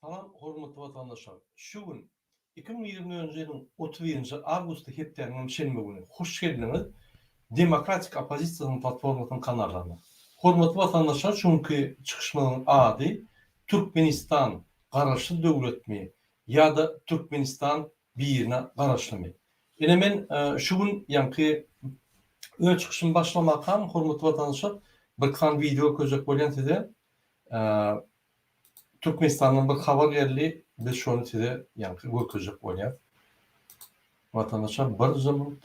Salam hormatly watandaşlar. Şu gün iki müň ýigrimi nji ýylyň otuz birinji awgusty hepdäniň hem şenbe güni. Hoş geldiňiz Demokratik oppozisiýasynyň platformasynyň kanallaryna. Hormatly watandaşlar şu günki çykyşmyzyň ady Türkmenistan garaşsyz döwletmi ýa-da Türkmenistan birine garaşlymy? Ine men şu gün ýaňky öz çykyşymy başlamakam hormatly watandaşlar bir kan wideo köjek bolýan size Türkmenistandan bir habar geldi biz şony size ýaňky görkezjek bolýar. Watandaşlar bir zymyt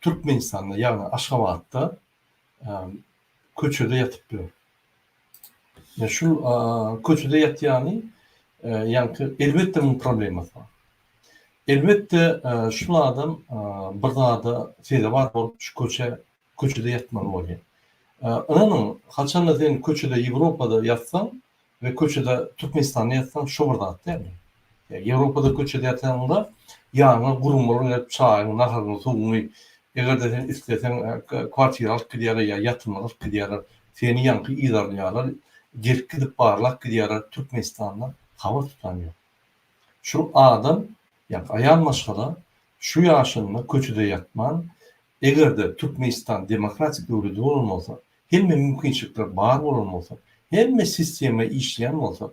Türkmenistanda, ýagny Aşgabatda köçede ýatyp ýör. Ýa şul köçede ýatýany, ýagny elbetde munuň problemasy bar. Elbetde şul adam bir zada sezewar bolup şu köçe köçede ýatmaly bolýar. Ynanyň, haçanda sen köçede Ýewropada ýatsaň, we köçede Türkmenistanda ýatsaň şo bir zat dälmi? Ýa Ýewropada köçede ýatanňda ýanyňa gurumlar gelip çaýyňy, naharyňy, suwuňy, eger-de sen isleseň kwartira alyp gidýärler ýa ýatymlyk alyp gidýärler, seni ýaňky yzarlaýarlar, gelip gidip barlap gidýärler, Türkmenistanda habar tutan ýok. Şu adam ýa aýal maşgala şu ýaşynda köçede ýatman Eger-de Türkmenistan demokratik döwlet bolan bolsa, hemme mümkinçilikler bar bolan bolsa, hemme sistema işleýän bolsa,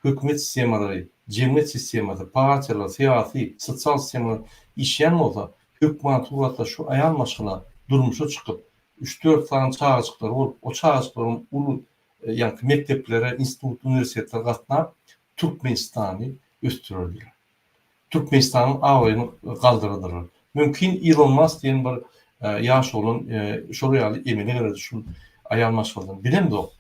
hökümet sistemalary, jemgyýet sistemasy, partiýalar, syýasy, sosial sistemalar işleýän bolsa, hökman suratda şu aýal maşgala durmuşa çykyp, üç-dört sany çagajyklary bolup, o çagajyklaryň uly, ýaňky mekdeplere, institut, uniwersitetler gatnap, Türkmenistany ösdürerdiler. Türkmenistanyň abraýyny galdyrardylar. Mümkin Ilon Mask diýen bir ýaş oglan şolar ýaly emele gelerdi şu aýal maşgaladan. Bilemzok.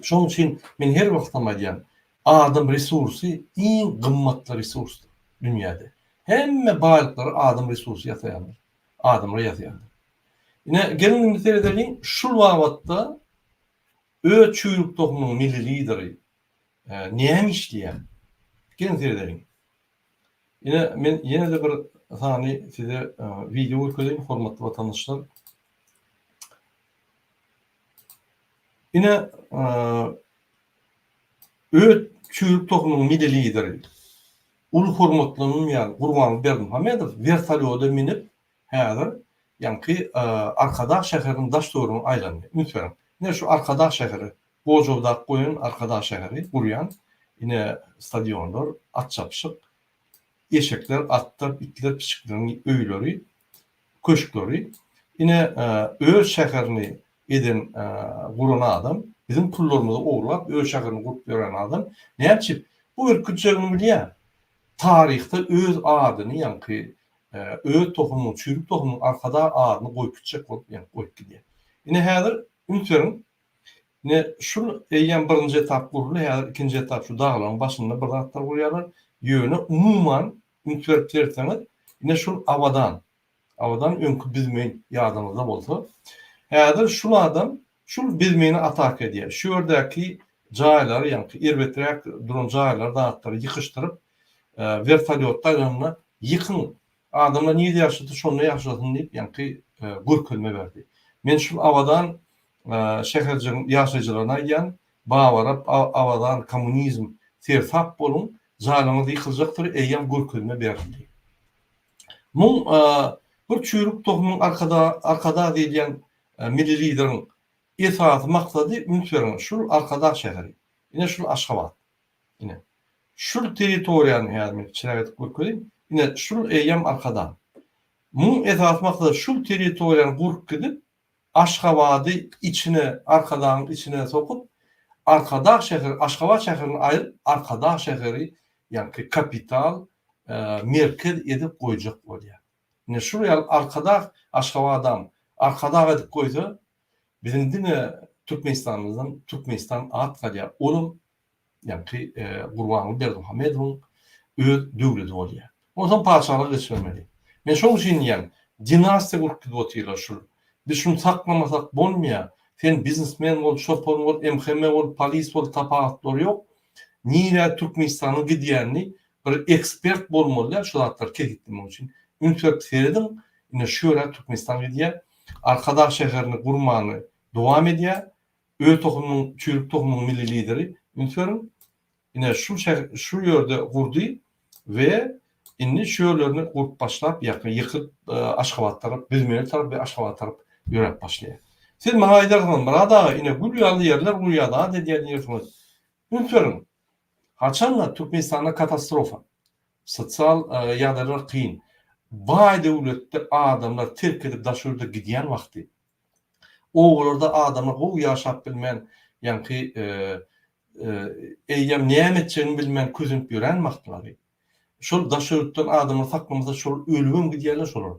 Şonuň üçin men her wagtam aýdýan, adam resursy iň gymmatly resursdyr dünýäde. Hemme baýlyklary adam resursy ýasaýandyr. Adamlar ýasaýandyr. Ine geliň indi seredeliň şul babatda öz çüýrük tohumynyň milli lideri Näme işleýär? Geliň seredeliň. Ine, men ýene-de bir sany size wideo görkezeýin, hormatly watandaşlar. Ine, öz çüýrük tohumynyň milli lideri, uly hormatlanylýan Gurbanguly Berdimuhamedow wertolýoda münüp, häzir ýaňky Arkadag şäheriniň daş-töweregine aýlandy. Üns beriň. Ine, şu Arkadag şäheri, Gojaodak goýun Arkadag şäheri gurýan ine stadionlar, at çapyşyk, eşekler, atlar, itler, piçikleriň öýleri, köşkleri. Ine öz şäherini eden guran adam, biziň pullarymyzy ogurlap öz şäherini gurup ýören adam näçe bu ürkütjegini bilýär. Taryhda öz adyny ýaňky öz tohumyň, çüýrük tohumyň Arkadag adyny goýup gitjek bolup goýup gidýär. Ine häzir üns beriň Ine, şul eýýäm birinji etap guruldy, häzir ikinji etap şu daglaryň başynda bir zatlar gurýarlar. Ýöne umuman üns berip seretseňiz, ine şul Abadan, Abadan öňki Bizmeýin ýadyňyzda bolsa, häzir şul adam şul Bizmeýine ataka edýär. Şu ýerdäki jaýlary, ýaňky erbeträk duran jaýlary, zatlary ýykyşdyryp, wertolýotda aýlanda, ýykyň, Adamlar nirde ýaşasa şonda ýaşasyn diýip ýaňky görkezme berdi. Men şul Abadan şäherjigiň ýaşaýjylaryna aýdýan, Babarap, Abadan, Kommunizm, sersap boluň, jaýlaryňyz ýykyljakdyr eýýäm görkezme berildi. Muň bir çüýrük tohumyň Arkadag diýilýän milli lideriň esasy maksady üns bereniň şul Arkadag şäheri. Ine şul Aşgabat. Ine, şul territoriýany häzir men çyrak edip görkeziň. Ine, şul eýýäm Arkadag. Munuň esasy maksady şul territoriýany gurup gidip, Aşgabady içine, Arkadagyň içine sokup, Arkadag şäheri, Aşgabat şäherini aýryp, Arkadag şäheri, ýagny kapital, merkez edip goýjak bolýar. Ine, şul ýaly Arkadag Aşgabadam Arkadag edip goýsa, biziň diňe Türkmenistanymyzdan Türkmenistan at galýar, olam ýa-ki Gurbanguly Berdimuhamedowyň öz döwleti bolýar. Onsoň patyşalygy geçibermeli. Men şoň üçin diýýän, dinastiýa gurup gidip otyrlar şul. Biz şuny saklamasak bolmaýar. Sen biznesmen bol, çopan bol, MHM bol, polis bol, tapawutlary ýok. Nirä Türkmenistanyň gidýänini bir ekspert bolmaly-da şu zatlary kesgitlemek üçin. Üns berip serediň, ine şu ýöne Türkmenistan gidýär. Arkadag şäherini gurmany dowam edýär. Öz tohumyň çüýrük tohumyň milli lideri üns beriň ine şul şul ýerde gurdy we indi şu ýerlerini gurup başlap ýakyň ýykyp aşgabat tarap bizmeli tarap we aşgabat tarap ýöräp başlaýar siz maňa aýdarsyňyz myrat aga ine gül ýaly ýerler gurýar zat edýär diýersiňiz üns beriň haçanda türkmenistanda katastrofa sosial ýagdaýlar kyn baý döwletde adamlar terk edip daş ýurda gidýän wagty Obalarda adama gowy ýaşap bilmän, ýaňky eýýäm näme etjegini bilmän kösenip ýören wagtlary. Şol daşörtden adamlar saklamasa şol ölübem gidýärler şolar.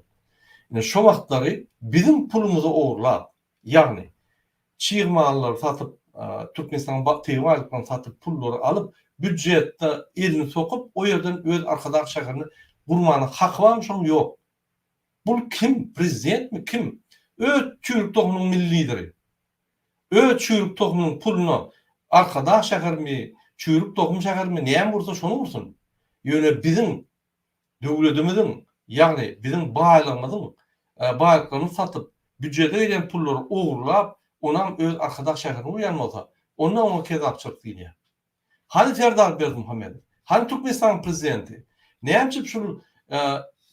Ine şo wagtlary biziň pulumyzy ogurlap, ýagny çig mallary satyp, Türkmenistanyň tebigy aýlyklaryny satyp, pullary alyp, býujetde elini sokup, o ýerden öz Arkadag şäherini gurmana haky barmy şonuň? Ýok. Bul kim prezident mi kim öz çüýrük tohumynyň milli lideri öz çüýrük tohumynyň puluna arkadag şäher mi çüýrük tohum şäher mi näme bolsa şony gursun ýöne biziň döwledimiziň ýagny biziň baýlygymyzyň baýlyklarymyzy satyp býujete girýän pullary ogurlap onam öz arkadag şäherini gurýan bolsa onda oňa kezapçylyk diýilýär. Hany Serdar Berdimuhamedow? Hany Türkmenistanyň prezidenti? Näme üçin şul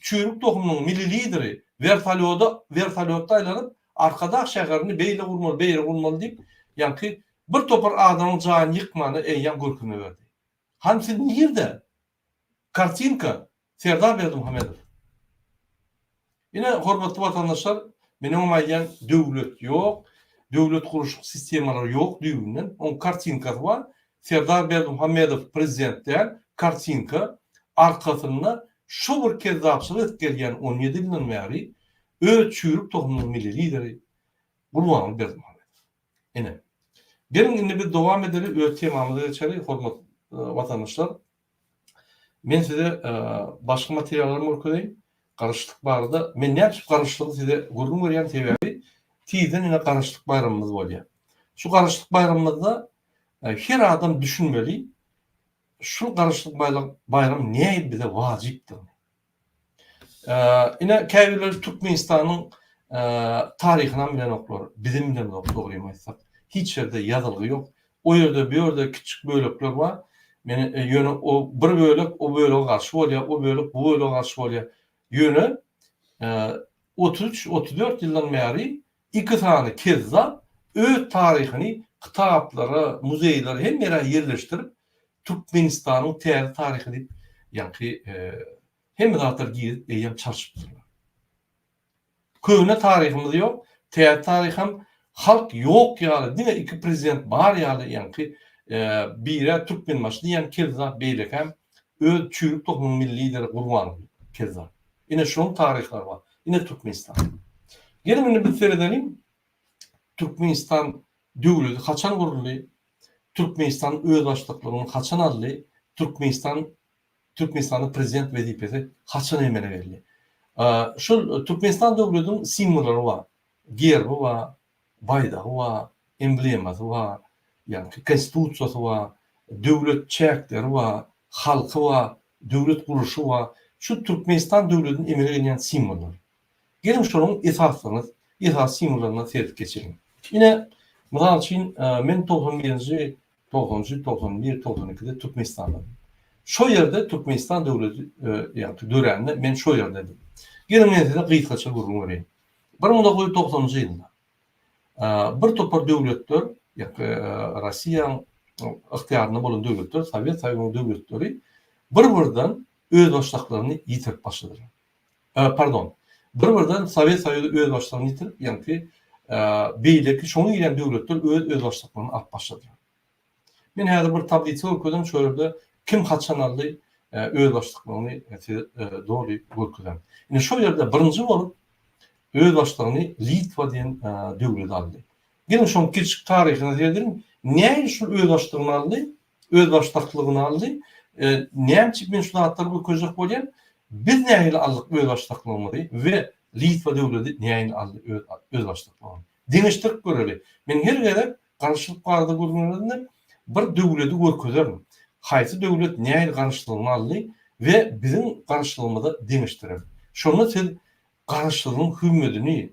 çüýrük tohumynyň milli lideri wertolýoda wertolýotda aýlanyp Arkadag şäherini beýle gurmaly beýle gurmaly diýip ýaňky bir topar adamyň jaýyny ýykmany eýýäm görkezme berdi. Hany siz nirde? Kartinka, Serdar Berdimuhamedow. Ine, hormatly watandaşlar, men oňa aýdýan döwlet ýok, döwlet gurluşyk sistemalary ýok düýbünden. Oň kartinkasy bar. Serdar Berdimuhamedow prezident däl, kartinka. Arkasynda şu bir kezzapçylyk edip gelýän on ýedi ýyldan bäri öz çüýrük tohumynyň milli lideri Gurbanguly Berdimuhamedow. Ine, geliň indi biz dowam edeli öz temamyza geçeli hormatly watandaşlar. Men size başga materiallarym görkezeýin. Garaşsyzlyk barada men nädip garaşsyzlygy size gürrüň berýän sebäbi tizden ýene garaşsyzlyk baýramymyz bolýar. Şu garaşsyzlyk baýramymyzda her adam düşünmeli şu garaşsyzlyk baýram näil bize wajypdygyny. Ine, käbirleri Türkmenistanyň taryhynam bilenoklar, bizem bilemzok, dogrymy aýtsak. Hiç ýerde ýazylgy ýok. O ýerde, bu ýerde kiçijik bölekler bar. Men ýöne o bir bölek o bölege garşy bolýar, o bölek bu bölege garşy bolýar. Ýöne otuz üç, otuz dört ýyldan bäri iki sany kezzap öz taryhyny kitaplara, muzeýlere hemme ýere ýerleşdirip, Türkmenistanyň täze taryhy diýip ýaňky hemme zatlar girip eýýäm çalşypdyrlar. Köne taryhymyz ýok, täze taryham halk ýok ýaly diňe iki prezident bar ýaly ýaňky bire Türkmenbaşy diýýän kezzap beýlekäm öz çüýrük tohumyň milli lideri Gurbanguly kezzap. Ine şunuň taryhlary bar. Ine Türkmenistan. Geliň indi biz seredeliň Türkmenistan Döwleti haçan guruldy? Türkmenistan özbaşdaklygyny haçan aldy? Türkmenistan Türkmenistanda prezident wezipesi haçan emele geldi? Şol Türkmenistan döwletiň simwollary bar. Gerbi bar, baýdagy bar, emblemasy bar, ýagny konstitusiýasy bar, döwlet çäkleri bar, halky bar, döwlet gurluşy bar. Şu Türkmenistan döwletiniň emele gelýän simwollary. Geliň şonuň esaslaryna, esasy simwollaryna serip geçeliň. Ine, mysal üçin, men togsan birinji, togsan üçünji, togsan bir, togsan ikide Türkmenistandadyň. Şo ýerde Türkmenistan döwleti dörände men şo ýerdedim. Geliň men size gysgaça gürrüň bereýin. Bir müň dokuz ýüz togsanynjy ýylda bir topar döwletler, Rossiýanyň ygtyýarynda bolan döwletler, Sowet Soýuzynyň döwletleri bir-birden özbaşdaklaryny ýitirip başladylar. Pardon. Bir birden Sowet Soýuzy özbaşdygyny ýitirip, ýaňky beýleki şoňa girýän döwletler öz özbaşdyklaryny alyp başladylar. Men häzir bir tablisa görkezem şu ýerde kim haçan aldy özbaşdyklygyny size doly görkezem. Indi şu ýerde birinji bolup özbaşdygyny Litwa diýen döwlet aldy. Geliň şoň kiçi taryhyna seredeliň. Näme şu özbaşdygyny aldy? özbaşdaklygyny aldy. Näme üçin men şu zatlary görkezjek bolýan? Biz nähili aldyk özbaşdaklygymyzy we Litwa döwleti nähili aldy öz özbaşdaklygyny? Deňeşdirip göreli. Men her gezek garaşylyk barada gürrüňlerinde bir döwleti görkezerin. Haýsy döwlet nähili garaşlygyny aldy we biziň garaşlygymyza deňeşdireris. Şonda siz garaşlygyň hümmedini,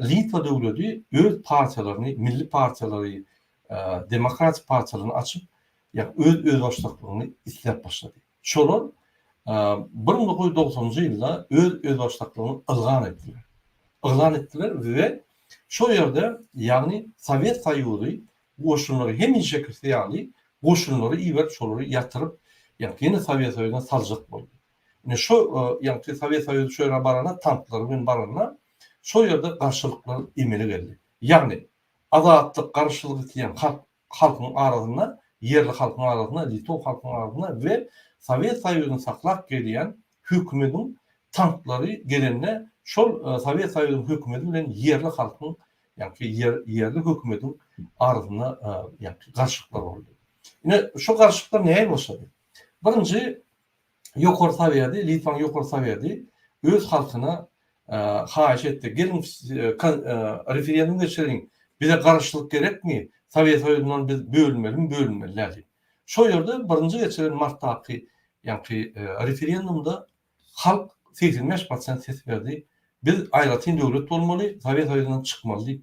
Litwa döwleti öz partiýalaryny, milli partiýalary, demokratik partiýalaryny açyp, ýagny öz özbaşdaklygyny isläp başlady. Şolar bir müň dokuz ýüz dogsanjy ýylda öz özbaşdaklygyny ylgan etdiler. Ylgan etdiler we şol ýerde, ýagny Sowet Soýuzy goşunlary hemişekisi ýaly goşunlary iberip, şolary ýatyryp, ýagny ýene Sowet Soýuzyna saljak boldy. Ine şo ýaňky Sowet Soýuzy şu ýere barana tanklary bilen baranda şo ýerde garşylyklar emele geldi. Ýagny azatlyk garşylyk isleýän halk halkyň arasynda ýerli halkyň arasynda litow halkyň arasynda we Sowet Soýuzyny saklap gelýän hökümetiň tanklary gelende şol Sowet Soýuzynyň hökümeti bilen ýerli halkyň ýagny ýerli hökümetiň arasynda ýagny garşylyklar boldy. Ine şo garşylyklar näme başlady? Birinji Ýokary Sowýady, Litwaň Ýokary Sowýady öz halkyna haýyş etdi, geliň referendum geçiriň, bize garaşsyzlyk gerekmi, Sowýet Soýuzyndan biz bölünmelimi, bölünmeli-le diýip. Şol ýerde birinji geçiren martdaky ýaňky referendumda halk segsen bäş prosent ses berdi, biz aýratyn döwlet bolmaly, Sowýet Soýuzyndan çykmaly diýip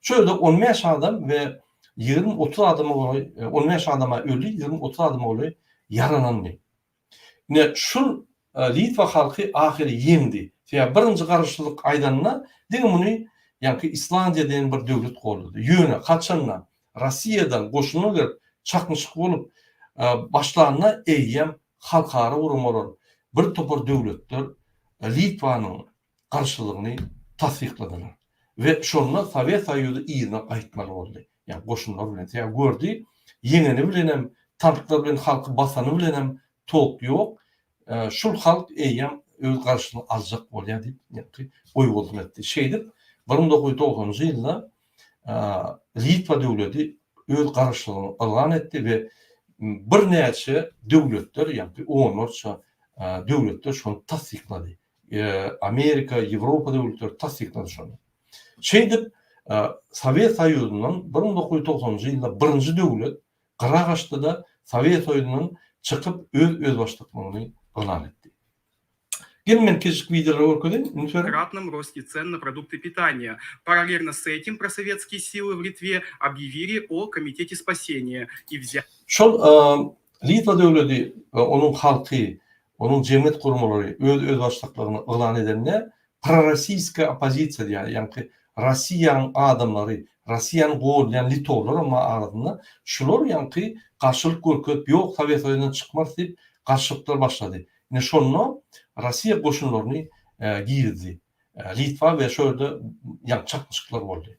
Şu ýerde on bäş adam we ýigrimi-otuz adama golaý, on bäş adama öli, ýigrimi-otuz adama golaý ýaralandy. Ine, şul Litwa halky ahyry ýeňdi. Sebäbi birinji garaşsyzlyk aýdanda, diňe muny ýaňky Islandiýa diýen bir döwlet goldady. Ýöne haçanda Russiýadan goşunlar gelip, çaknyşyk bolup başlanda eýýäm halkara guramalar, bir topar döwletler Litwanyň garşylygyny tassykladylar we şonda Sowet Soýuzy yzyna gaýtmaly boldy, ýagny goşunlar bilen, sebäbi gördi, ýeňeni bilenem, tanklar bilen halky basany bilenem tolk ýok, şul halk eýýäm öz garşylygyny aljak bolýar diýip, ýagny oýgurlyk etdi. Şeýdip, bir müň dokuz ýüz dogsanjy ýylda Litwa döwleti öz garşylygyny yglan etdi we birnäçe döwletler, ýagny onlarça döwletler şony tassyklady. Amerika, Ýewropa döwletleri tassyklady şony. Şeýdip, Sowet Soýuzyndan bir müň dokuz ýüz togsan njy ýylda birinji döwlet gyra gaçdy-da, Sowet Soýuzyndan çykyp, öz özbaşdaklygyny yglan etdi. Gelin men kiçijik wideolary görkezeýin. Üns beriň. Kratnom rosti cen na produkty pitania. Paralelno s etim prosovetskiye sily w Litve obýewili o komiteti spaseniya i wzya. Şol Litwa döwleti we onuň halky Onuň jemgyýet guramalary öz özbaşdaklaryny yglan edende prorossiýska oppozisiýa diýýärdi, ýagny Rossiýanyň adamlary, Rossiýany goldaýan litowlaram bar arasynda, şular ýagny garşylyk görkezip ýok Sowet Soýuzyndan çykmarys diýip garşylyklar başlady. Ine şonda Rossiýa goşunlaryny girizdi Litwa we şo ýerde ýagny çaknyşyklar boldy.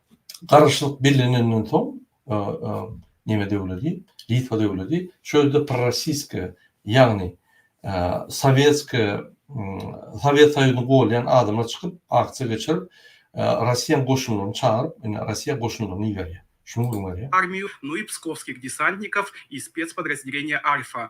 Garaşlyk bellenenden soň, neme döwledi, Litwa döwledi, şu ýerde prorossiýskiý, ýagny sowetskiý, Sowet Soýuzyny golýan adamlar çykyp, aksiýa geçirip, Rossiýanyň goşunlaryny çagyryp, indi Rossiýa goşunlaryny iberýär. Şunuň öňüni alýar. Armiyyu Nuy pskowskih desantnikov i specpodrazdeleniýe Alfa,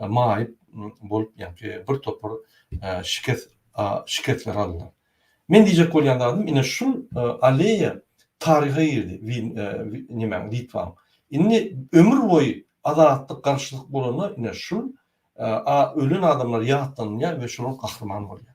maýyp bolup ýaňky bir topar şikes şikesler aldylar. Men diýjek bolýan zadym ine şul aleýa taryha girdi nemäň Litwaň. Indi ömür boýy azatlyk garşylyk bolanda ine şul ölen adamlar ýatlanylýar we şolar gahryman bolýar.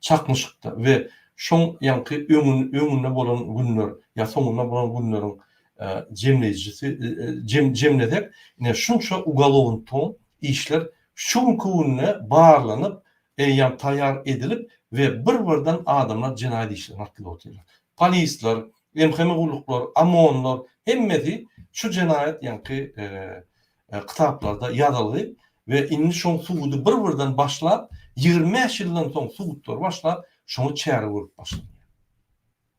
Çaknyşykda we şoň ýaňky öňünde bolan günler ýa soňunda bolan günleriň jemleýjisi jemlesek ine şunça ugolovntoň işler şu günki günde barlanyp eýýam taýýar edilip we bir birden adamlar jenaýat işlerini atlyp otyrlar polisler mhmi gulluklar omonlar hemmesi şu jenaýat ýaňky Kitaplarda ýazylgy we indi şoň sugudy bir birden başlap ýigrimi bäş ýyldan soň sugutlary başlap şoňa çäre görüp başlanýar.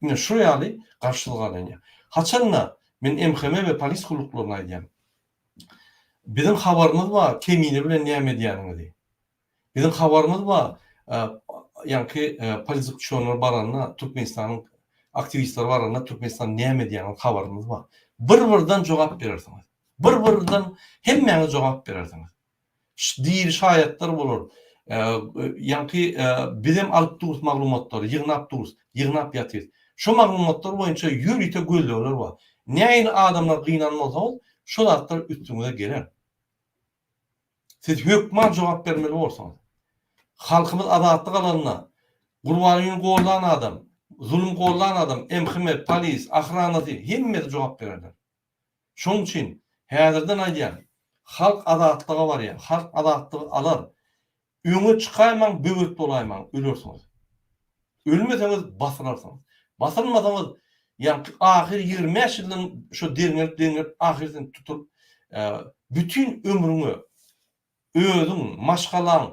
Ine şu ýaly garşylgalanýar. Haçanda men MHM we polis gulluklaryna aýdýan. Biziň habarymyz bar kemine bilen näme edýäniňizi. Biziň habarymyz bar, ýaňky politik uçurymlar baranda, Türkmenistanyň aktiwistleri baranda Türkmenistan näme edýänini habarymyz bar. Bir birden jogap berersiňiz. Bir birden hemmäňiz jogap berersiňiz. Diri şaýatlar bolar. Ýaňky bizem alyp durus maglumatlary, ýygnap durus, ýygnap ýatyrys. Şu maglumatlar boýunça ýörite gözlegler bar. Näin adamlar gynan bolsaňyz, şo zatlar üstüňize geler. Siz hökman jogap bermeli bolsaňyz. Halkymyz azatlyk alanda, Gurbangüni gollan adam, zulum gollan adam, MHM, polis, ahranasy, hemmesi jogap bererler. Şoň üçin, häzirden aýdýan, halk azatlyga barýar, halk azatlygy alar. Öňe çykaýmaň, böwet bolaýmaň, ölersiňiz. Ölmeseňiz basylarsyňyz. Basylmasaňyz ýaňky ahyr ýigrimi bäş ýyldan şo derňelip derňelip ahyr sen tutulyp bütin ömrüňe özüň maşgalaň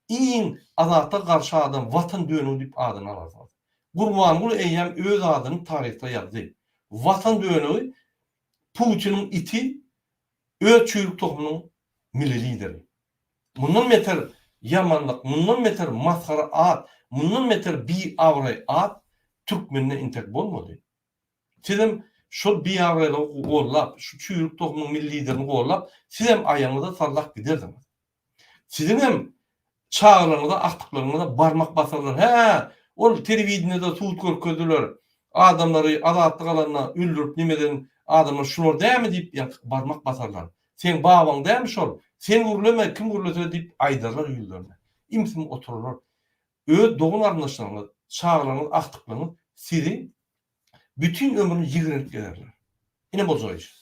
iň azatlyga garşy adam watan dönügi diýip adyny alarsyňyz. Gurbanguly eýýäm öz adyny taryhda ýazdy. Watan dönügi Putiniň iti Öz çüýrük tohumynyň milli lideri. Mundan beter ýamanlyk, mundan beter masgara at, mundan beter biabraý at türkmende entek bolmady. Sizem şol biabraýlygy gollap, şu çüýrük tohumynyň milli liderini gollap, sizem aýagyňyza sallak giderdiňiz. Siziň hem çagalaryňyza agtyklygyňyza barmak basarlar. Hä, ol telewideniýede sud görkezdiler. Adamlary azatlyk alanda öldürip neme eden adamlar şular dämi diýip ýatyk barmak basarlar. Seň babaň dämi şol? Sen gürleme, kim gürlese diýip aýdarlar ýüzlerine. Im-sim oturarlar. Öz dogan-garyndaşlaryňyz, çagalaryňyz agtyklygyňyz sizi bütin ömrüni ýigrenip gezerler. Ine boljak iş.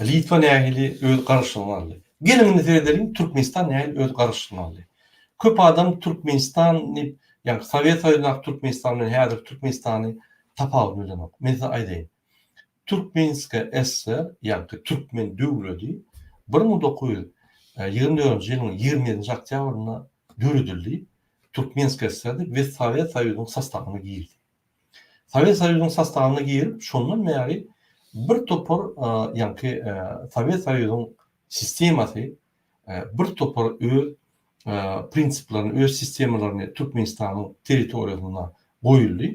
Litwa nähili öz garaşlygyny aldy? Geliň indi seredeliň Türkmenistan nähili öz garaşlygyny aldy? Köp adam Türkmenistan diýip, ýagny Sowet Soýuzyndaky Türkmenistan bilen häzirki Türkmenistany tapawudyny bilenok. Men size aýdaýyn. Türkmenska SSR ýagny Türkmen döwledi bir müň dokuz ýüz ýigrimi dördünji ýylyň ýigrimi ýedinji oktýabrynda döredildi. Türkmenska SSR-di we Sowet Soýuzynyň sastawyna girdi. Sowet Soýuzynyň sostawyna girip, şondan bäri birtopar ýaňky Sowet Soýuzynyň sistemasy birtopar öz prinsiplaryny, öz sistemalaryny Türkmenistanyň territoriýasynda goýuldy,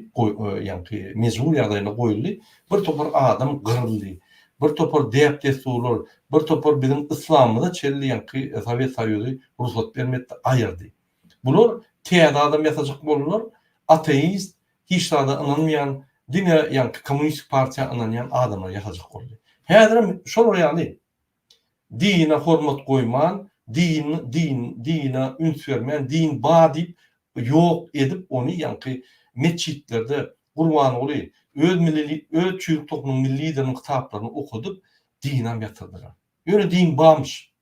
ýaňky mejbury ýagdaýynda goýuldy, birtopar adam gyryldy, birtopar däp-dessurlar, birtopar biziň yslamymyza çenli ýaňky Sowet Soýuzy rugsat bermedi, aýyrdy. Bular täze adam ýasajak boldular, ateist, hiç zada ynanmaýan, diňe ýaňky kommunistik partiýa ynanýan adamlar ýasajak boldy. Häzirem şolar ýaly dine hormat goýman, din din dine üns bermän, din bar diýip ýok edip ony ýaňky metjitlerde Gurbanguly öz milli öz çüýrük tohumynyň milli lideriniň kitaplaryny okadyp dinam ýatyrdylar. Ýöne din barmyş.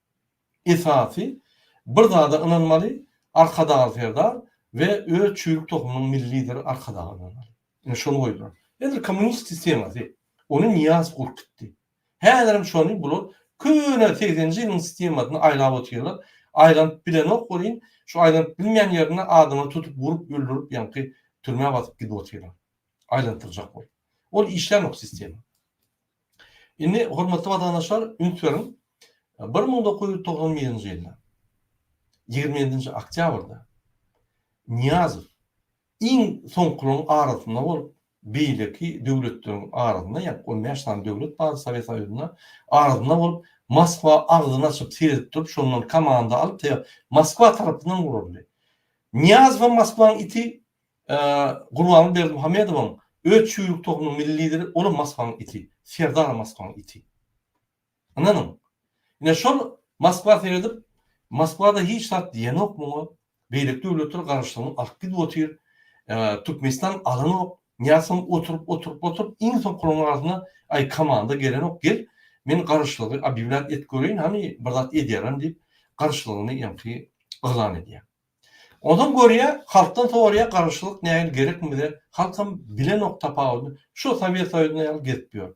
Esasy bir zada ynanmaly, Arkadagy Serdar we öz çüýrük tohumynyň milli lideri Arkadaga ynanmaly. Ine şony goýdular. Häzir kommunist sistemasy, ony Nyýazow gurup gitdi. Häzirem şony bular köne segseninji ýylyň sistemasyny aýlap otyrlar. Aýlanyp bilenok welin, şu aýlanyp bilmeýän ýerinde adama tutup urup öldürip ýaňky türmä basyp gidip otyrlar. Aýlantyrjak bolup. Ol işlänok sistema. Indi, hormatly watandaşlar, üns beriň, bir müň dokuz ýüz togsan birinji ýylda, ýigrimi ýedinji oktýabrda Nyýazow iň soňkularyň arasynda bolup, beýleki döwletleriň arasynda, ýagny on bäş sany döwlet bardy Sowet Soýuzynda, arasynda bolup, Moskwa agzyny açyp seredip durup, şondan komanda alyp, Moskwa tarapyndan guraldy. Nyýazow hem Moskwanyň iti, Gurbanguly Berdimuhamedowyň öz çüýrük tohunyň milli lideri olam Moskwaň iti, Serdaram Moskwaň iti. Ynanyň. Ine şol Moskwa seredip, Moskwada hiç zat diýenok muňa, beýleki döwletler garaşsygyny alyp gidip otyr, Türkmenistan alanok, Nyýaz soň oturyp, oturyp, oturyp, iň soňkularyň arasynda, aý komanda gelenok, gel, men garaşsyzlygy obýawlýat et göreýin, hany, bir zat edýärem diýip, garaşsyzlygyny ýaňky yglan edýär. Ozal görýä halkdan sorýa garaşylyk nähili gerekmi bize halkam bilenok tapawudyny şo sowet soýuzynda ýaly gezip ýör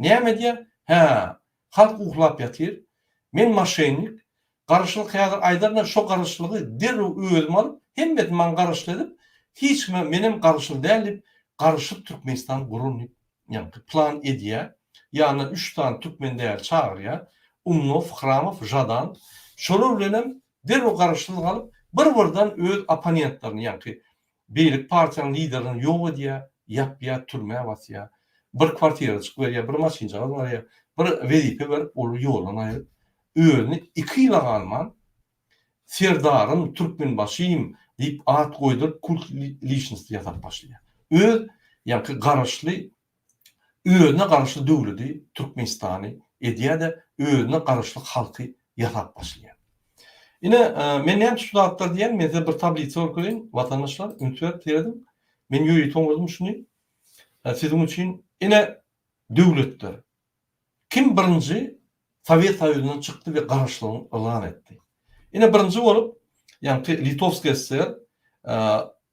näme edýä hä halk uhlap ýatyr men maşennik garaşylyk häzir aýdarynda şo garaşylygy derrew özüm alyp hemmesini maňa garaşly edip hiç kime menem garaşyly däl diýip garyşyp türkmenistan guraryn diýip ýaňky plan edýä ýanyna üç sany türkmen däli çagyrýa umnow hramow žadan şolar bilenem Derrew garaşsyz galyp, bir-birden öz opponentlerini, ýaňky beýleki partiýanyň liderlerini ýok edýär, ýapýar, türmä basýar. Bir kwartirajyk berýär, bir maşynjagaz berýär, bir wezipe berip, ol ýoldan aýryp, özüni iki ýyla galman Serdarym, Türkmenbaşym diýip at goýduryp, kult liçnosti ýasap başlaýar. Öz, ýaňky garaşly özüne garaşly döwledi, Türkmenistany, edýär-de, özüne garaşly halky ýasap başlaýar. Ine, men näme üçin şu zatlary diýýän, men size bir tablisa görkezeýin, watandaşlar, üns berip serediň. Men ýörite oňardym şuny. Siziň üçin, ine, döwletler. Kim birinji Sowet Soýuzyndan çykdy we garaşlygyny yglan etdi? Ine, birinji bolup, ýagny Litowskiý SSR,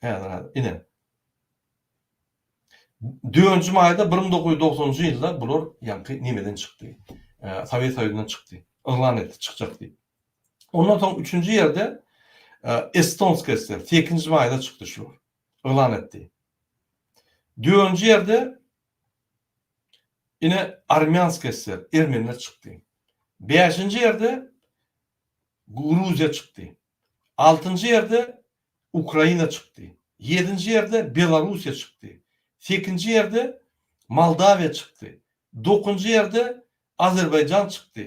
Häzir häzir ine. Dönji maýda bir müň dokuz ýüz dogsanjy ýylda bular ýaňky nimeden çykdy. Sowet Soýuzyndan çykdy. Yglan etdi çykjak diýip. Ondan soň üçünji ýerde Estonska SSR sekizinji maýda çykdy şular. Yglan etdi. Dönji ýerde ine Armýanska SSR ermeniler çykdy. Bäşinji ýerde Gruziýa çykdy. Altynjy ýerde Ukraina çykdy. Ýedinji ýerde Belarussiýa çykdy. Sekinji ýerde Moldawiýa çykdy. Dokunjy ýerde Azerbaýjan çykdy,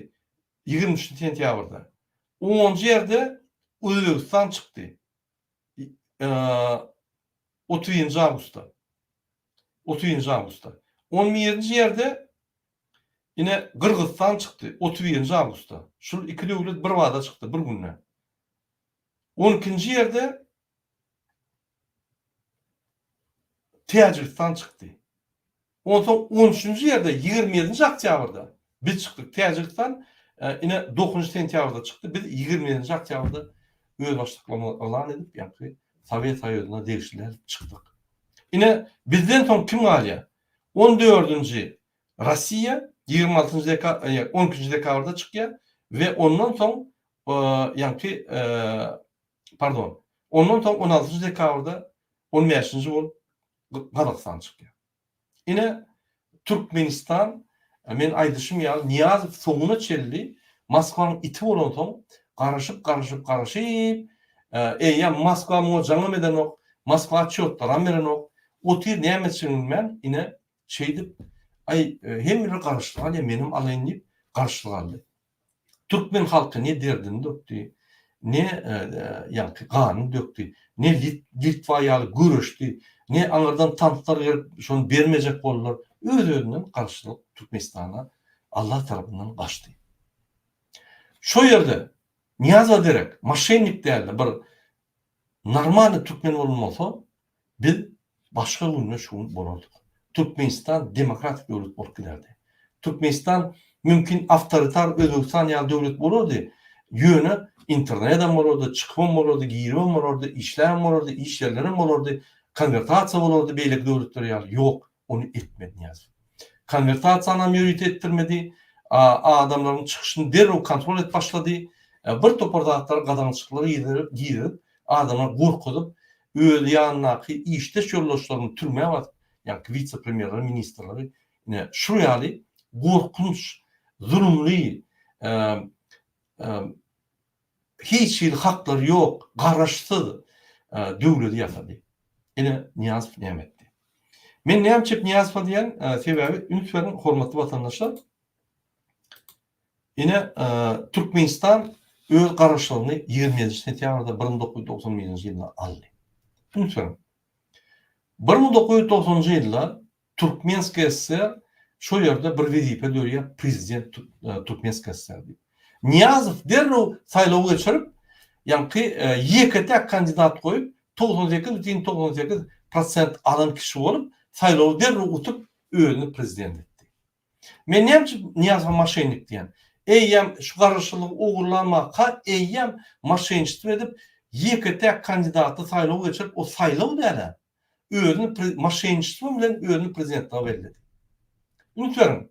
ýigrimi üçünji sentýabrda. Onunjy ýerde Özbegistan çykdy, otuzynjy awgustda. Otuzynjy awgustda. On birinji ýerde ine Gyrgyzystan çykdy, otuz birinji awgustda. Şul iki döwlet birbada çykdy, bir günde. On ikinji ýerde Täjigistan çykdy. Onsoň on üçünji ýerde ýigrimi ýedinji oktýabrda biz çykdyk. Täjigistan ine dokuzynjy sentýabrda çykdy. Biz ýigrimi ýedinji oktýabrda özbaşdaklygymyzy yglan edip, ýagty Sowet Soýuzyna degişliler çykdyk. Ine, bizden soň kim galýar? On dördünji Russiýa ýigrimi altynjy deka, ýa on ikinji dekabrda çykýar we ondan soň, ýaňky, pardon, ondan soň on altynjy dekabrda on bäşinji bolup Gazagystan çykýar. Ine, Türkmenistan, men aýdyşym ýaly, Nyýazow soňuna çenli Moskwanyň iti bolansoň, garaşyp, garaşyp, garaşyp, eýýäm Moskwa muňa jaňam edenok, Moskwa çýotlaram berenok, otyr, näme etjegini bilmän, ine, Şeýdip, Aý, hemmeler garaşyp alýar, menem alaýyn diýip, garaşyp aldy. Türkmen halky ne derdini dökdi, ne ýaňky ganyny dökdi, ne Litwa ýaly göreşdi, ne aňyrdan tanklar gelip, şony bermejek boldular. Öz-özünden garaşsyzlyk Türkmenistana Allah tarapyndan gaçdy. Şo ýerde Nyýazow derek moşennik däldi, bir normalny türkmen bolan bolsa, Biz başga günde şu gün bolardyk. Türkmenistan demokratik döwlet bolup giderdi. Türkmenistan mümkin awtoritar Özbegistan ýaly döwlet bolardy, ýöne internedem bolardy, çykybam bolardy, giribem bolardy, işläbem bolardy, iş ýerlerem bolardy, konwertasiýa bolardy beýleki döwletler ýaly. Ýok. ony etmedi Nyýazow. Konwertasiýanam ýörite etdirmedi. Adamlaryň çykyşyny derrew kontrol edip başlady. Bir topar zatlary gadagançyklary gizledip, adamlary gorkuzyp, öz ýanyndaky işdeş ýoldaşlaryny türmä basyp, ýaňky wise-premýerleri, ministrleri ine şul ýaly gorkunç, zulumly hiç hili haklary ýok, garaşsyz döwledi ýasady. Ine, Nyýazow näme etdi? Men näme üçin Nyýazowa diýýän, sebäbi, üns beriň, hormatly watandaşlar, ine, Türkmenistan öz garaşlygyny ýigrimi ýedinji sentýabrda bir müň dokuz ýüz togsan birinji ýylda aldy. Üns beriň, bir müň dokuz ýüz togsanjy ýylda Türkmen SSR şo ýerde bir wezipe dörýär prezident Türkmen SSR diýip. Nyýazow derrew saýlaw geçirip, ýaňky ýeke-täk kandidat goýup, togsan sekiz bütin togsan sekiz prosent alan kişi bolup, saýlawy derrew utup, özüni prezident etdi. Men näme üçin Nyýazowa maşennik diýýän? Eýýäm şu garaşsyzlygy ogurlanmaka eýýäm maşenniçtwo edip, ýeke-täk kandidaty saýlaw geçirip, o saýlaw däl-ä. özüni pre moşenniçtwo bilen özüni prezidentlige belledi. Üns beriň,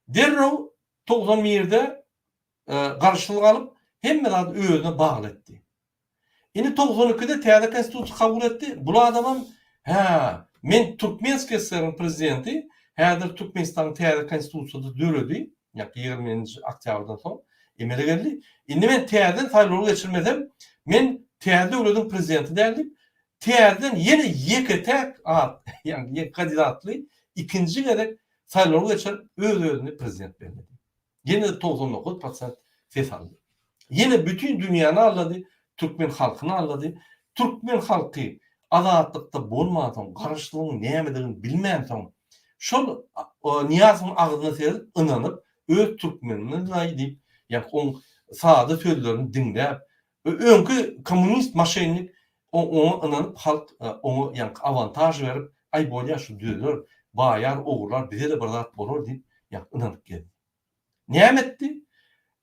derrew togsan birde garşylyk alyp, hemme zady özüne bagly etdi. Indi togsan ikide täze konstitusiýa kabul etdi, bul adamam, hä, men Türkmenskiý SSR-iň prezidenti, häzir Türkmenistanyň täze konstitusiýasy döredi, ýa-da ýigrimi nji oktýabrdan soň emele geldi, indi men täzeden saýlawy geçirmesem, men täze döwletiň prezidenti däl diýip, Täzeden ýene ýeke-täk at, ýagny ýek kandidatly ikinji gezek saýlawy geçirip, öz-özüni prezident belledi. Ýene-de togsan dokuz prosent ses aldy. Ýene bütin dünýäni aldady, türkmen halkyny aldady. Türkmen halky azatlykda bolmansoň, garaşsyzlygyň nämedigini bilmänsoň, şol Nyýazowyň agzyna seredip, ynanyp, öz türkmenimiz-laý diýip, ýa oň sada sözlerini diňläp, Öňki kommunist maşennik oňa ynanyp halk oňa ýaňky awantaž berip aý bolýa şu düzeler baýar ogurlar bizede bir zat bolar diýip ýaňky ynanyp gezdi. Näme etdi?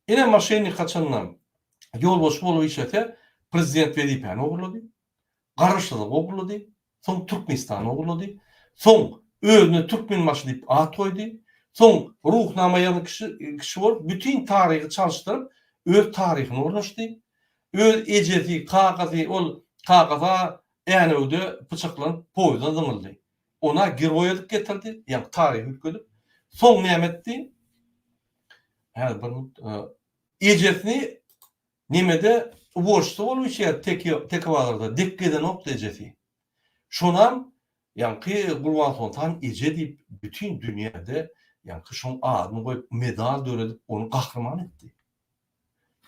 Ine maşennik haçanda ýolbaşçy bolup işlese prezident wezipäni ogurlady, garaşsyzlygy ogurlady, soň Türkmenistana ugrady, soň özüne Türkmenbaşy diýip at goýdy, soň Ruhnama ýazan kişi bolup, bütin taryhy çalyşdyryp, öz taryhyny ornaşdy. Öz ejesi, kakasy, ol kakasy-a Änewde pyçaklanyp, poýizden zyňyldy. Ony-a geroý edip getirdi, ýagny taryhy üýtgedip. Soň näme etdi? Häzir bir minut. Ejesini Nemede uboçda bolup içýär Tekebazarda dek gezenokdy ejesi. Şonam ýaňky Gurbansoltan eje diýip bütin dünýäde ýaňky şoň adyny goýup medal döredip ony gahryman etdi.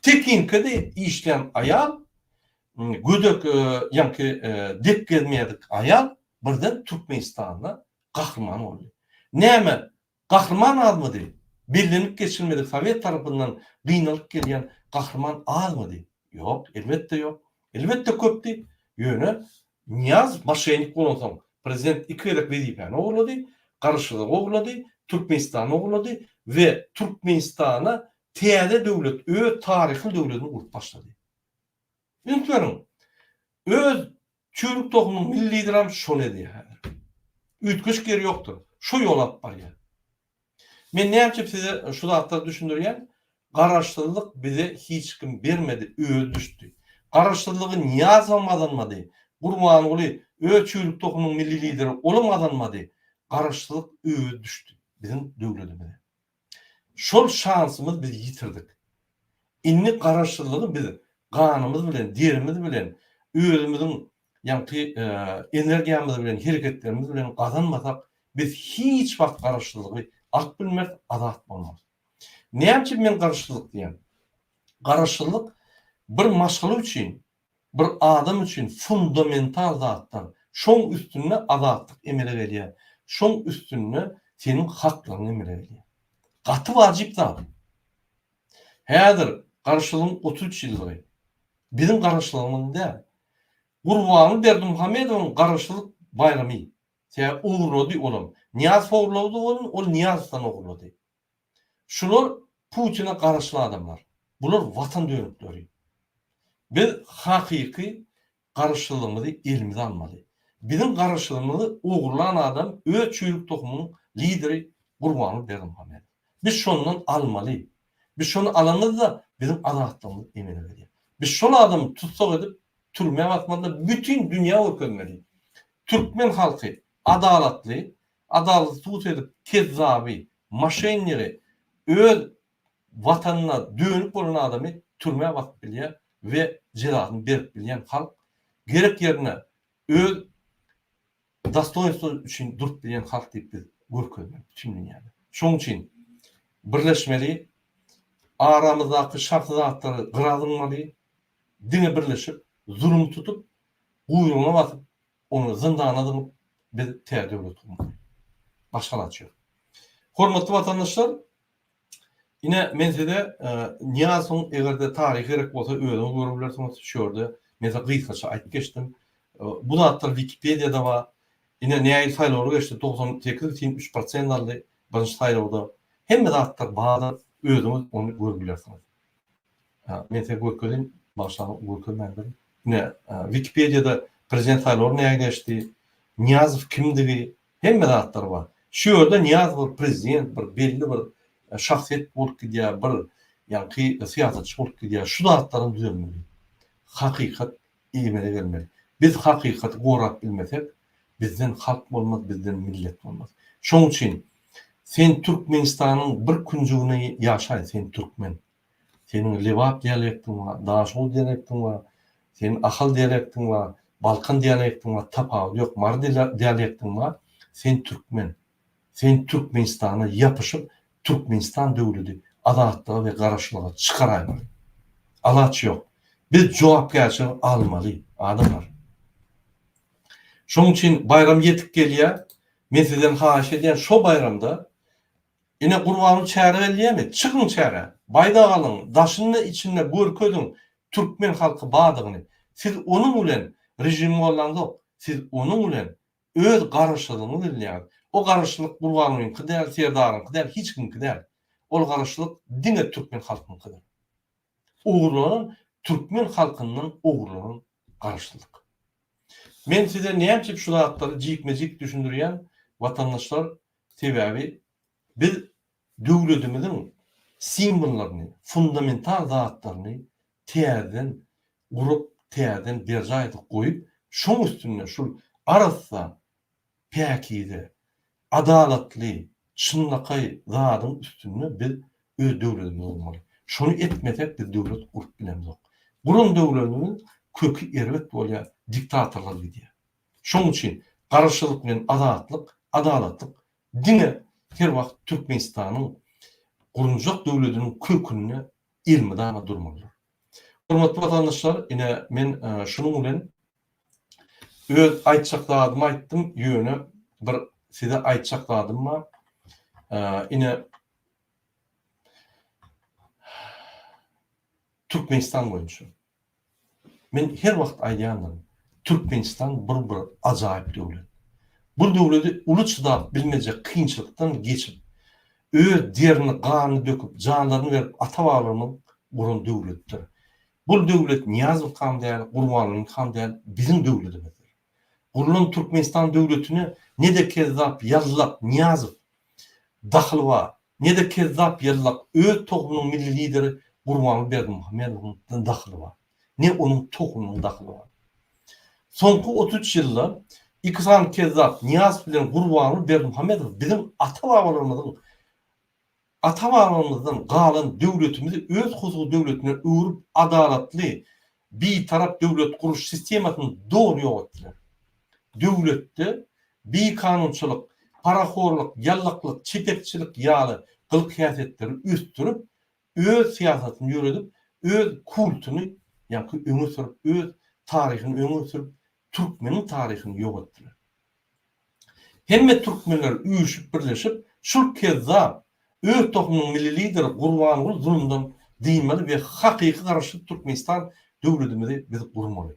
Tekinkede işlän aýal gödek ýaňky dek gezmedik aýal birden Türkmenistanda gahryman boldy. Näme Gahryman azmydy? Bellenip geçilmedik sowet tarapyndan gynalyp gelýän gahryman azmydy? Ýok, elbetde ýok. Elbetde köpdi. Ýöne Nyýazow moşennik bolansoň, prezident iki gezek wezipäni ogurlady, Garaşsyzlygy ogurlady, Türkmenistany ogurlady we Türkmenistana täze döwlet, öz taryhly döwledini gurup başlady. Ünsmeriň. Öz çüwrük tohumyň milligram şony edýär häzir. Üýtgeşik ýeri ýokdur. Şo ýoly alyp barýar. Men näçe size şu zatlary düşündirýän, Garaşsyzlyk bize hiç kim bermedi, özi düşdi. Garaşsyzlygy Nyýazow gazanmady, Gurbanguly, öz çüwrük tohumyň milli lideri, olam gazanmady. Garaşsyzlyk özi düşdi biziň döwletimize. Şol şansymyz biz ýitirdik. Indi garaşsyzlygy biz ganymyz bilen, derimiz bilen, özümiziň ýaňky energiýamyz bilen, hereketlerimiz bilen gazanmasak, biz hiç wagt garaşsyzlygy alyp bilmeris, azat bolmarys. Näme üçin men garaşsyzlyk diýýän? Garaşsyzlyk bir maşgala üçin bir adam üçin fundamental zatlar. Şoň üstünde azatlyk emele gelýär. Şoň üstünde seniň haklaryň emele gelýär. Gaty wajyp zat. Häzir Garaşsyzlygyň otuz üç ýyllygy. Biziň Garaşsyzlygymyzyň däl. Gurbanguly Berdimuhamedowyň Garaşsyzlyk baýramy. Sebäbi ogurlady olam. Nyýazow ogurlady ony, ol Nyýazowdan ogurlady. Şular Putine garaşly adamlar. Bular watan dönükleri. Biz hakyky garaşsyzlygymyzy elimize almaly. Biziň garaşsyzlygymyzy ogurlan adam öz çüýrük tohumynyň lideri Gurbanguly Berdimuhamedow. Biz şondan almaly. Biz şony alamyzda biziň azatlygymyz emele gelýär. Biz şol adamy tussag edip türmä basmaly-da bütin dünýä görkezmeli. Türkmen halky adalatly, Adalat sud edip kezzaby, maşennigi, öz Watanyna dönük bolan adamy türmä basyp bilýär we jezasyny berip bilýän halk, gerek ýerinde öz dostoýnstwo üçin durup bilýän halk diýip biz görkezmeli bütin dünýäde. Şoň üçin birleşmeli, aramyzdaky şahsy zatlary gyra zyňmaly, diňe birleşip zulum tutup, guýrugyna basyp Ony zyndana zyňyp, biz tä döwlet gurmaly. Başga zat ýok. Hormatly watandaşlar, ine, men size Nyýazowyň, eger-de taryhy gerek bolsa, özüňiz görüp bilersiňiz, şu ýerde men size gysgaça aýdyp geçdim. Bu zatlar Wikipediýada bar. Ine, näil saýlawlar geçdi, togsan sekiz bitin üç prosent aldy birinji saýlawda. Hemme zatlar bardyr, özüňiz ony görüp bilersiňiz. Ha, men size görkezin, başdan görkezmändirin. Ne, Wikipediýada prezident saýlawy näge geçdi, Niýazow kimdigi, hemme zatlar bar. Şu ýerde Niýazow prezident bir belli bir e, şahsyýet bolup gidýär, bir ýaňky syýasatçy bolup gidýär. Şu zatlaryň düzelmeli. Hakykat Emele gelmeli. Biz hakykaty gorap bilmesek, bizden halk bolmaz, bizden millet bolmaz. Şoň üçin sen Türkmenistanyň bir künjügine ýaşaý, sen türkmen. Seniň lebap dialektiň bar, daşoguz dialektiň bar, seniň ahal dialektiň bar, balkan dialektiň bar, tapawudy ýok, mary dialektiň bar, sen türkmen. Sen Türkmenistana ýapyşyp Türkmenistan döwledi azatlyga we garaşlyga çykaraýmaly. Alaç ýok. Biz jogapkärçiligi almaly adamlar. Şoň üçin baýram ýetip gelýä. Men sizden haýyş edýän şo baýramda ine Gurbanguly çäre bellýämi? Çykyň çärä. Baýdak alyň. Daşynda içinde görkeziň Türkmen halky badygyny. Siz onuň bilen režim gollaňzok. Siz onuň bilen Öz garaşsyzlygyňy bilýäň. O garaşsyzlyk Gurbangulyňky däl, Serdaryňky däl, hiç kimiňki däl. Ol garaşsyzlyk diňe türkmen halkyňkydyr. Ogurlanan türkmen halkyndan ogurlanan garaşsyzlyk. Men size nämçe şu zatlary jikme-jik düşündirýän, watandaşlar, sebäbi biz Döwletimiziň simwollaryny, fundamental zatlaryny täzeden gurup, täzeden berjaý edip goýup, şoň üstünde şul arassa, päkize, adalatly, çynlakaý zadyň üstünde biz öz döwletimizi gurmaly. Şony etmesek biz döwlet gurup bilemzok. Guran döwletimiziň köki erbet bolýar, diktatorlar gidýär. Şoň üçin Garaşsyzlyk bilen Azatlyk, Adalatlyk Diňe her wagt Türkmenistanyň gurunjak döwlediniň kökünde elmydama durmalydyr. Hormatly watandaşlar, ine, men şunuň bilen öz aýtjak zadymy aýtdym, ýöne bir size aýtjak zadym bar. Ine, Türkmenistan boýunça. Men her wagt aýdýandyryn, Türkmenistan bir bir ajaýyp döwlet. Bu döwleti uly çydap bilmejek kynçylykdan geçip, öz derini, ganyny döküp, janlaryny berip ata-babalarymyz guran döwletdir. Bul döwlet Nyýazow han däl, Gurbanguly han däl, biziň döwletimizdir. Gurlan Türkmenistan döwletine ne-de kezzap, ýallak, Nyýazow dahyly bar, Ne-de kezzap ýyllak öz tohumynyň milli lideri Gurbanguly Berdimuhamedowyň dahyly bar, ne onuň tohumynyň dahyly bar. Soňky otuz üç ýylda iki sany kezzap Nyýazow bilen Gurbanguly Berdimuhamedow biziň ata-babalarymyzyň ata-babalarymyzdan galan döwletimizi öz husudy döwletine öwrüp adalatly Bitarap döwlet gurulyş sistemasyny doly ýok etdiler. Döwletde bikanunçylyk, parahorlyk, ýallaklyk, çetekçilik ýaly gylyk-häsiýetleri ösdürip, öz syýasatyny ýöredip, öz kultuny ýaňky öňe sürüp, öz taryhyny öňe sürüp, Türkmeniň taryhyny ýok etdiler. Hemme türkmenler üýşüp birleşip şul kezzap öz tohumynyň milli lideri Gurbanguly zulumdan dynmaly we hakyky garaşsyz Türkmenistan döwledimizi biz gurmaly.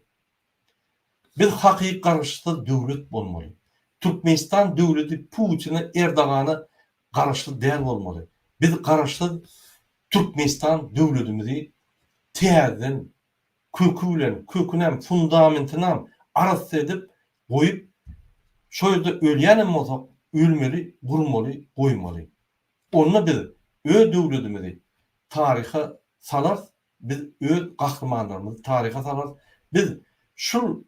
Biz hakyky garaşsyz döwlet bolmaly. Türkmenistan döwledi Putine Erdogana garaşsyz däl bolmaly. Biz garaşsyz Türkmenistan döwledimizi täzeden köki bilen, kökünem, fundamentynam arassa edip goýup, şo ýerde ölýänem bolsak, ölmeli, gurmaly, goýmaly. Onda biz öz döwledimizi taryha salarys, biz öz gahrymanlarymyzy taryha salarys, biz şul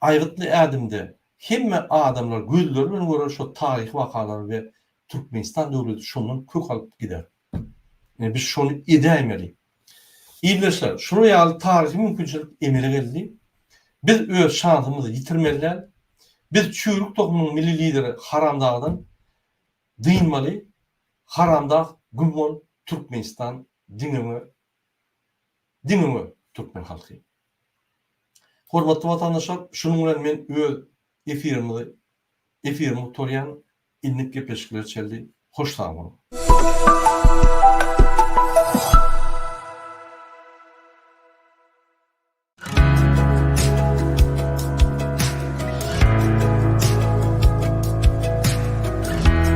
Aýgytly ädimde, hemme adamlar gözleri bilen görer şo taryhy wakalary we Türkmenistan döwleti şondan kök alyp gider. Ine, biz şony edäýmeli. Ildeşler, şular ýaly taryhy mümkinçilik emele geldi. Biz öz şansymyzy ýitirmeli däl. Biz çüwrük tohumynyň milli lideri Haramdagdan dynmaly. Haramdag güm bol, Türkmenistan diňe we Diňe we türkmen halky. Hormatly watandaşlar şunuň bilen men öz efirimizi efirimi gutarýan indik gepleşikler çeldi hoş sag boluň.